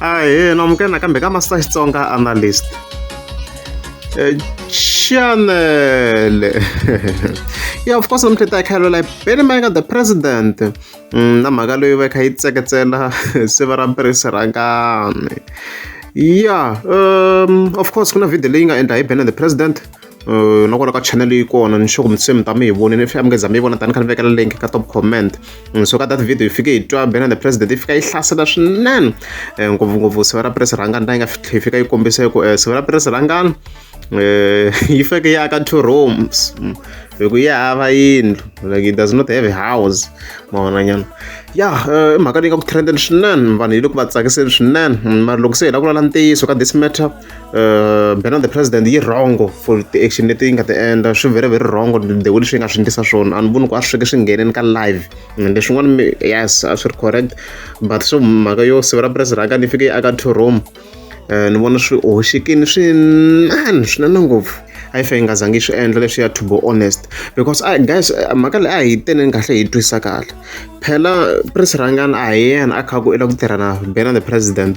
ahee na amukela nakambe ka master xitsonga analyst eh, chanele ya of course namuntlha ta khayelo la beni mayeka the president mm, na mhaka leyi va kha yi tseketsela siva ra mpirisirhangani ya um of course ku na video leyi nga endla hi bena the president na kona ka channel yi kona ni sure ku mi se mi ta mi yi vonile if mi nga za mi yi vona tani kha ni vekela link ka top comment so ka that video yi fike yi twa bena the president yi fika yi hlasela swinene ngopfungopfu siva ra puresi rhangani ta yi nga fitlhe yi fika yi kombisa ku siva ra puresi rhangani yi feke yi aka two rooms hi ku yi hava yindlu like it does not have a house mavonanyana ya i mhaka leyi nga ku trendeni swinene vanhu yi le ku va tsakiseni swinene mara loko se hi la ku lala ntiyiso ka this matter bana the president yi wrong for ti-action leti yi nga ti endla swi very very wrong the way leswi yi nga swi endlisa swona a ni voni ku a swi sweke swi ngheneni ka live leswin'wana yes a swi ri correct but swo mhaka yo sivela press raka ni fike yi aka two room um ni vona swi hoxekini swinene swinene ngopfu a yi fe yi nga zangi yi swi endla leswi ya to be honest because a guys mhaka leyi a hi teneni kahle hi twisisa kahle phela press rangani a hi yena a kha ku i la ku tirha na bana the president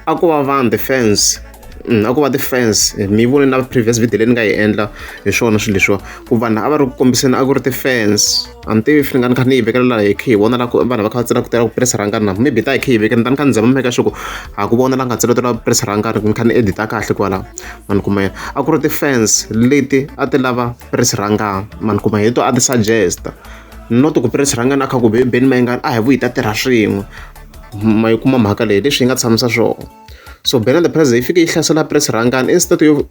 a ko va vanhu the fans mm, a ko va ti-fans mi vone na previous video leyi ni nga yi endla hi swona swilo leswiwa ku vanhu a va ri ku kombiseni a ku ri ti-fans a ni tivi ni nga ni kha ni yi vekela laha hi khe hi vona la vanhu va kha va tsela ku tela ku press rhangani na maybe ta hi khe hi vekela ni ta ni kha ni zama meka xoko a ku vona la nga tseletela ku press rhangani ni kha ni edita kahle kwala mani kuma yena a ku ri ti-fans leti a ti lava press rhangani mani kuma hi to a ti suggesta not ku press rhangani a kha ku beni mayingani a hi vuyi ta tirha swin'we ma yi kuma mhaka leyi leswi yi nga tshamisa swona so bena the president yi fike yi hlasela press rhangani instead yo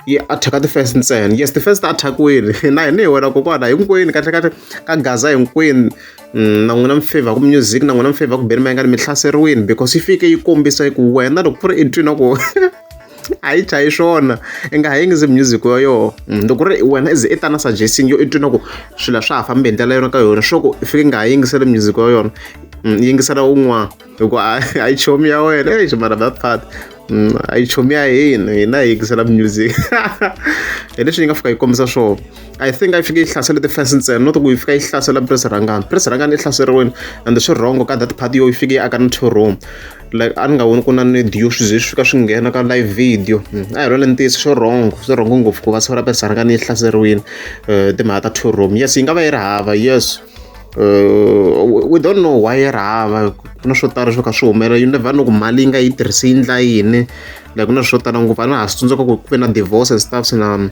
yi attack the first ntsena yes the first ta attackwini na hina hi wena kokwana hinkwenu kahle kahle ka gaza hinkwenu mm, na n'wina mi favor ku music na n'wina mi favor ku beni mayingani mi hlaseriwini because yi fike yi kombisa ku wena loko ku ri entwini wa ku a yi chayi swona i nga ha yingisi music wa yoho mm, loko ri wena ize i ta na suggesting yo i twi na ku swilo swa ha fambi hi ndlela yona ka yona swo ku i fike i nga ha yingiseli music wa yona mm, yingisela wun'wana hikuva a yi chomi ya wena ei ximara that part mm, a yi chomi ya hina hina hi yingisela music hi leswi yi nga fika yi kombisa swona i think a yi fike yi hlasela ti-fans ntsena not ku yi fika yi hlasela pres rangani pres rangani i hlaseriwini and swi wrong ka that part yo yi fike yi aka na two room like a ni nga voni ku na ni dyo swi ze swi fika swi nghena ka live video hmm, a hi role ntiyiso swo wrong swo wrong ngopfu ku va siku ra pesana ka ni yi hlaseriwile um timhaka ta two room yes yi nga va yi ri hava yes uh, we don't know why yi ri hava ku na swo tala swo ka swi humelela you never know ku mali yi nga yi tirhisi yi ndla yini like ku na swo tala ngopfu a na ha swi tsundzuka ku ku ve na divorce and stuff na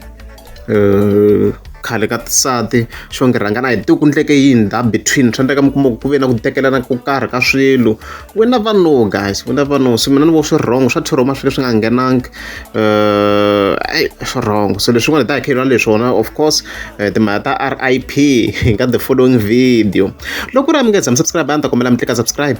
khale ka tisati xo ngi rhangana hi tiku ndleke yini da between swa ndleka mi kuma ku ve na ku tekelana ku karhi ka swilo we never know guys we never know so mina ni vo swi wrong swa thiroma swi swi nga nghenangi um eyi swi wrong so leswin'wana hi ta hakhelana leswona of course eh, timhaka ta r i p hi ka the following video loko ri a mi nge tshami subscribe a ni ta kombela mi tlika subscribe